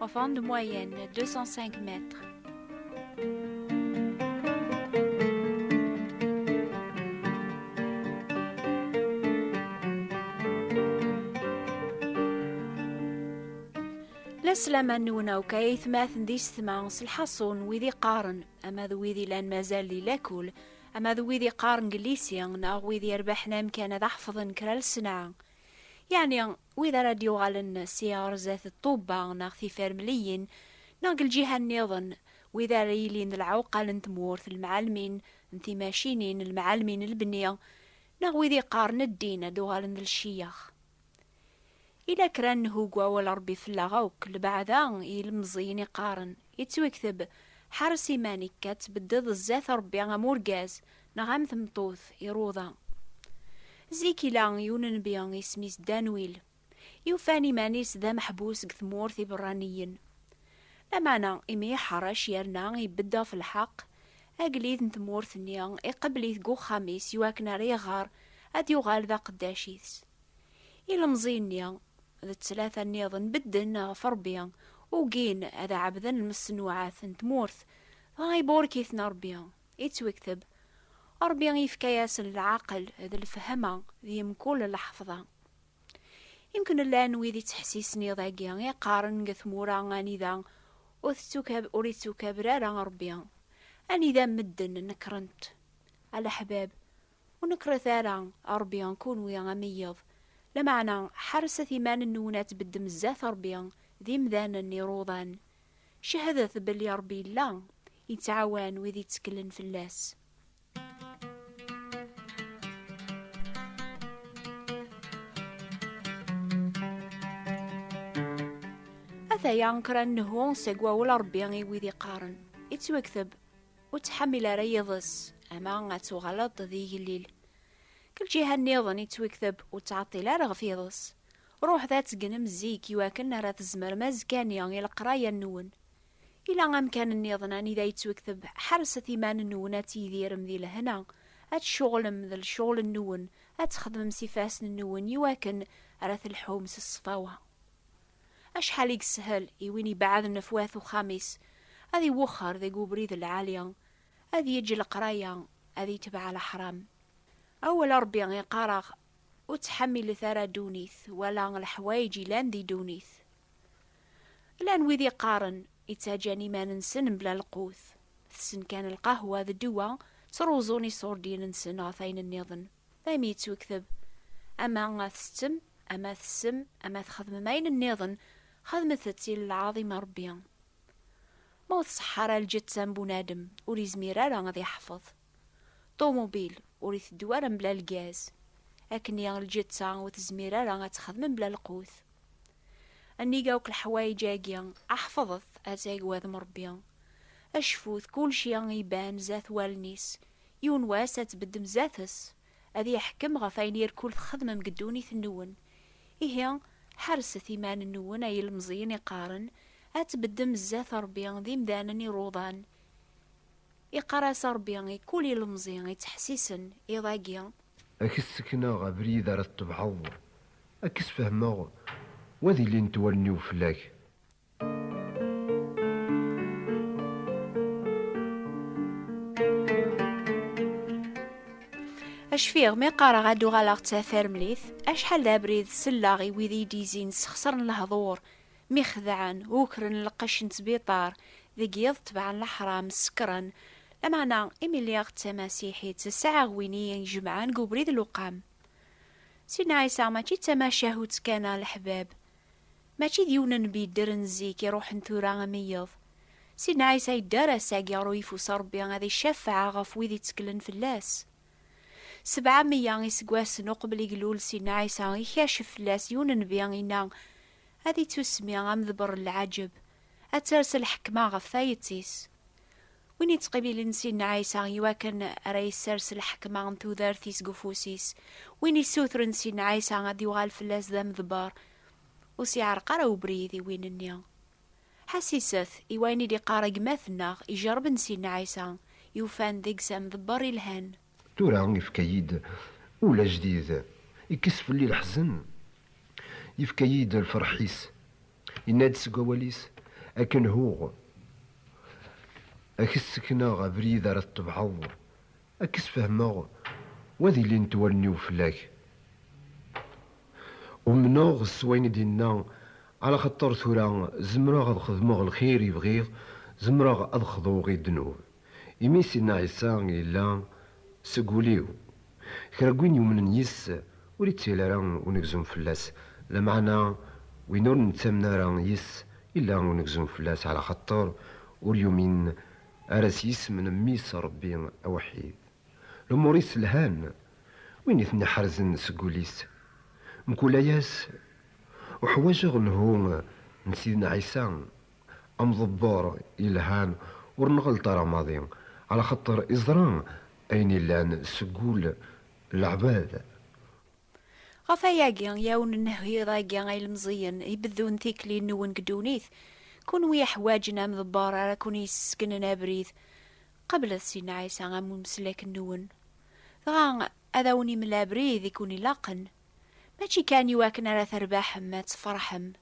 Enfant de moyenne, 205 mètres. Laslama nwen akk ay aytmaten d isetma s lḥaṣun wid iqqaren ama d wid ilan mazal di lakul ama d wid iqqaren deg llisi neɣ wid yerbaḥen amkan ad ḥefḍen kra lesnaɛ yeɛni Wid ara d-yuɣalen si ɣer zdat d Ṭubba neɣ Tifermliyin neɣ deg lǧiha nniḍen, wid ara yilin d lɛuqal n tmurt, lemɛalmin n timacinin, lemɛalmin n lebni, neɣ wid yeqqaren ddin ad d-uɣalen d lciyax. Yella kra n nnhu deg wawal n Rebbi fell-aɣ akk, lbeɛda i yilemẓiyen i qqaren, yettwekteb, Ḥares iman-ik ad tbeddeḍ zdat Rebbi am urgaz, Neɣ am tmeṭṭut iruḍa. Zik ila yiwen nnbi isem-is Danwil, yufan iman-is d ameḥbus deg tmurt iberraniyen. Lameɛna imi iḥeṛṛec yerna ibedd ɣef lḥeqq, agellid n tmurt-nni iqebbel-it deg uxxam-is iwakken ara iɣer ad yuɣal d aqeddac its. Ilemẓi-nni d ttlata nniḍen bedden ɣef Ṛebbi, ugin ad ɛebden lmeṣnuɛat n tmurt, dɣa iburek-iten Ṛebbi. Yettwekteb, Ṛebbi yefka-yasen lɛaqel d lefhama di mkul lḥefḍa. Yemken llan wid ittḥessisen iḍ-agi i qqaren deg tmura anida ur ittukaber ara Ṛebbi, anida medden nekkren-t, a leḥbab, ur nekkret ara Ṛebbi kunwi a meyyed, lameɛna ḥerset iman-nwen ad tbeddem zdat Ṛebbi d imdanen iṛuḍan, Cehdet belli Ṛebbi yella, yettɛawan wid itteklen fell-as. Ataya kra n nehu seg wawel n Ṛebbi i wid iqqaren, Ittwekteb, Ur ttḥamil ara yiḍes, ama ad tuɣaleḍ d igellil. Deg lǧiha nniḍen, ittwekteb, Ur ttɛeṭṭil ara ɣef yiḍes. Ruḥet ad tegnem zik i wakken ara tzemrem azekka-nni i leqraya-nwen. Ila amkan nniḍen anida yettwekteb Ḥerset iman-nwen ad tidirem di lehna, ad tceɣlem d lecɣel-nwen, ad txedmem s ifassen-nwen i wakken ara telḥum s ṣṣfawa. Acḥal i yeshel i win ibeɛden ɣef wat uxxam-is ad iwexxer deg ubrid lɛali, ad yeǧǧ leqraya, ad itbeɛ leḥram. Awal Ṛebbi iqqar-aɣ Ur ttḥamilet ara ddunit wala leḥwayeǧ ilan di ddunit. Llan wid iqqaren, ittaǧan iman-nsen mebla lqut, tessen kan lqahwa d ddwa, ttruẓun iṣurdiyen-nsen ɣef ayen nniḍen, daymi yettwekteb, ama tsettem, ama tessem, ama txedmem ayen nniḍen, xedmet-tt i lɛaḍim n Ṛebbi. Ma ur tṣeḥḥa ara lǧetta n bunadem, ur izmir ara ad iḥfeḍ. Ṭumubil ur iteddu ara mebla lgaz, akkenni lǧiṭa ur tezmir ara ad texdem mebla lqut. Nnig akk leḥwayeǧ-agi, ḥefḍet ad tagwadem Ṛebbi, acfut kulci iban zdat wallen-is, yiwen wass ad tbeddem zdat-s, ad iḥkem ɣef ayen irkul txedmem deg ddunit-nwen. Ihi, ḥerset iman-nwen ay ilemẓiyen iqqaren, ad tbeddem zdat Ṛebbi d imdanen iṛuḍan, Iqqar-as Ṛebbi i kul ilemẓi ittḥessisen, iḍ-agi. A k-ssekneɣ abrid ara tebɛeḍ, a k-sfehmeɣ, wa ad ilint wallen-iw fell-ak. A cfiɣ mi qqareɣ ad uɣaleɣ d tatarmlit, acḥal d abrid selleɣ i wid iyi-d-izin ssexṣren lehḍur, Mi xedɛen, ukren lqecc n ttbiṭar, deg yiḍ tebɛen leḥram, sekkren. Lameɛna, imi lliɣ d tamasiḥit, sɛiɣ win i yi-ijemɛen deg ubrid n lewqam. Sidna Ɛisa mačči d tamacahut kan, a leḥbab. Mačči d yiwen n nnbi yeddren zik, iruḥen tura am yiḍ. Sidna Ɛisa yedder ass-agi ɣer uyeffus n Rebbi ad icafeɛ ɣef wid itteklen fell-as. Sebɛa meyya iseggasen uqbel i ilul Sidna Ɛisa, ikacef fell-as yiwen n nnbi, yenna, ad ittusmi amḍebber n lɛaǧeb, ad ters lḥekma ɣef tayet-is. Win ittqibilen Sidna Ɛisa i wakken ara yessers lḥekma n tudert-is deg ufus-is, win issutren Sidna Ɛisa ad yuɣal fell-as d amḍebber, ur s-iɛreq ara ubrid i win-nni. Ḥassiset i wayen i d-iqqar gma-tneɣ ijerrben Sidna Ɛisa, yufan deg-s amḍebber ilhan. Tura yefka-yi-d ul ajdid, ikkes fell-i leḥzen, yefka-yi-d lferḥ-is, yenna-d seg wawal-is, akken huɣ, a k-ssekneɣ abrid ara tettebɛeḍ, a k-sfehmeɣ, wa d ilint wallen-iw fell-ak. Umneɣ s wayen i d-yenna, alaxaṭer tura zemreɣ ad xedmeɣ lxir i bɣiɣ, zemreɣ ad xḍuɣ i ddnub. Imi Sidna Ɛisa yella seg wul-iw. Kra n win yumnen yis-s ur ittili ara unegzum fell-as, lameɛna win ur nettamen ara yis-s illa unegzum fell-as ɛla xaṭer ur yumin ara s yisem n Mmi-s Ṛebbi awḥid. Lumuṛ-is lhan, win i ten-iḥerzen seg wul-is. Mkul aya-s, uḥwaǧeɣ lhu n Sidna Ɛisa Amḍebber yelhan ur nɣelleṭ ara maḍi, ɛla xaṭer iẓra ayen yellan seg ul n leɛbad. Ɣef wayagi, yaw n nnehhiḍ-agi, a ilmeẓiyen, ibeddun tikli-nwen deg ddunit, kunwi iḥwaǧen amḍebber ara ken-yessegnen abrid, qablet Sidna Ɛisa am umeslek-nwen, dɣa ad awen-imel abrid i ken-ilaqen, mačči kan i wakken ara terbaḥem, ad tefṛeḥem.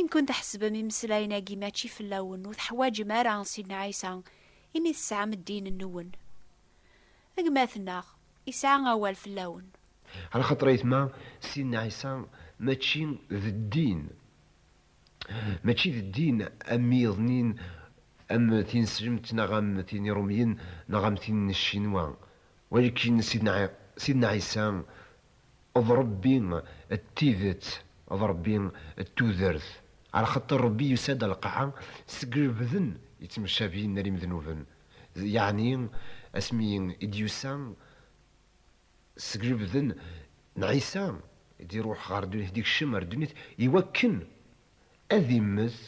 Inkun tḥesbem imeslayen-agi mačči fell-awen, ur teḥwaǧem ara Sidna Ɛisa imi tesɛam ddin-nwen. Gma-tneɣ, isɛa awal fell-awen. Ɛla xaṭer ayetma, Sidna Ɛisa mačči d ddin, mačči d ddin am yiḍnin am tineslemt neɣ am tin irumyen neɣ am tin n ccinwa, walakin Sidna Ɛisa D Ṛebbi d tidet, d Ṛebbi d tudert. Arxaṭer Ṛebbi yusa-d a lqaɛa seg lebden yettmeccabi n rim dnuben, yeɛni asmi i d-yusa seg lebden n Ɛisa, i d-iṛuḥ ɣer ddunit, i d-ikcem ar ddunit, iwakken ad immet,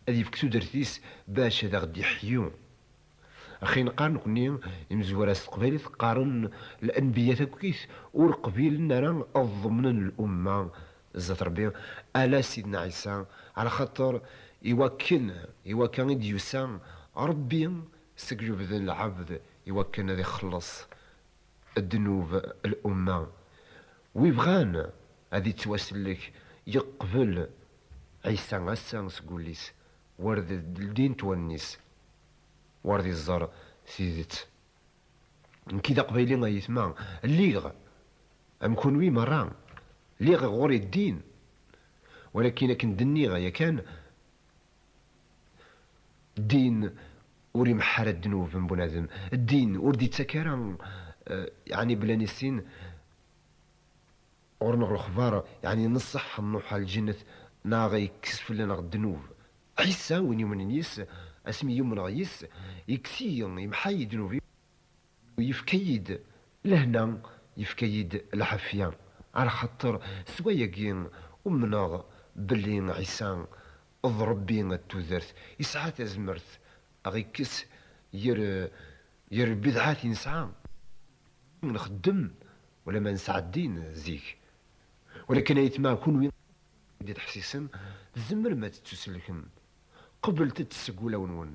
ad ifk tudert-is bac ad aɣ-d-iḥyu. Axi neqqar nekni imezwura s teqbaylit qqaren Lenbiya takkit ur qbilen ara ad ḍemnen lumma zdat Rebbi ala Sidna Ɛisa ɛla xaṭer iwakken iwakka i d-yusa Rebbi seg lebden lɛebd iwakken ad ixelleṣ ddnub l-umma, wi bɣan ad ittwasellek yeqbel Ɛisa ass-a seg wullis, wer d ldint wallen-is, wer d iẓer tidet. Nekki d aqbayli a yetma, lliɣ am kunwi merra, lliɣ ɣur-i ddin, walakin akken d-nniɣ yakan, Ddin ur imeḥḥa ara ddnub n bunadem. Ddin ur d-ittak ara yeɛni belli ad nissin ɣur-neɣ lexbar yeɛni nṣeḥ nruḥ ɣer lǧennet neɣ yekkes fell-aneɣ ddnub. Ɛisa, win yumnen yis-s, asmi i umneɣ yis-s, yekkes-iyi, yemḥa-iyi ddnub-iw. Yefka-yi-d lehna, yefka-yi-d lɛafya, ɛlaxaṭer s wayagi umneɣ belli Ɛisa d Ṛebbi n tudert, yesɛa tazmert a ɣ-ikkes ger ger lbidɛat i nesɛa, imi nxeddem wala ma nesɛa ddin zik. Walakin ay tmeɛ kunwi i d-ittḥessisen, tzemrem ad tettusellkem, qeblet-t seg wulawen-nwen.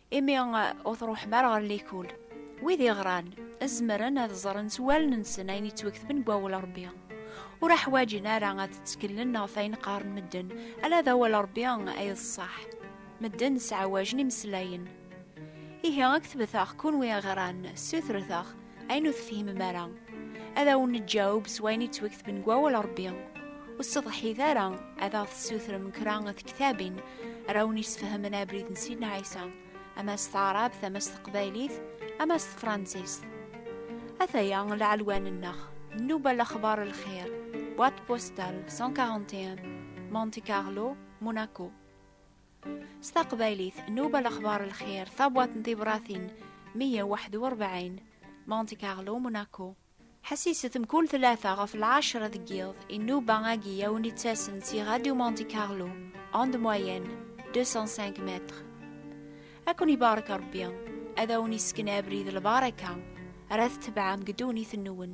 Imi ur truḥem ara ɣer likul. Wid iɣran, zemren ad ẓren s wallen-nsen ayen yettweketben deg wawal n Rebbi. Ur aḥwaǧen ara ad tteklen ɣef ayen qqaren medden, ala d awal n Rebbi ay d ṣṣeḥ. Medden sɛawajen imeslayen. Ihi, ad ketbet-aɣ kunwi iɣran, ssutret-aɣ. Ayen ur tefhimem ara, ad awen-neǧǧaweb s wayen yettwaketben deg wawal n Rebbi. Ur sseḍḥit ara ad aɣ-tessutrem kra n tektabin ara awen-yesfehmen abrid n Sidna Ɛisa, ama s taɛrabt, ama s teqbaylit, ama s tefransist. Ataya lɛelwan-nneɣ, Nnuba Lexbar Lxir, boîte postale 141, Monte Carlo, Monaco. S taqbaylit, Nuba Lexbar Lxir, tabwaṭ n tibratin 141, Monte Carlo, Monaco. Ḥessiset mkul tlata ɣef lɛecra deg yiḍ, inuba agi a wen-ittasen si Radio Monte Carlo, onde moyenne 205 mètres. Ad ken-ibarek Rebbi, ad awen-isken abrid lbaraka, ara tetebɛem deg ddunit-nwen.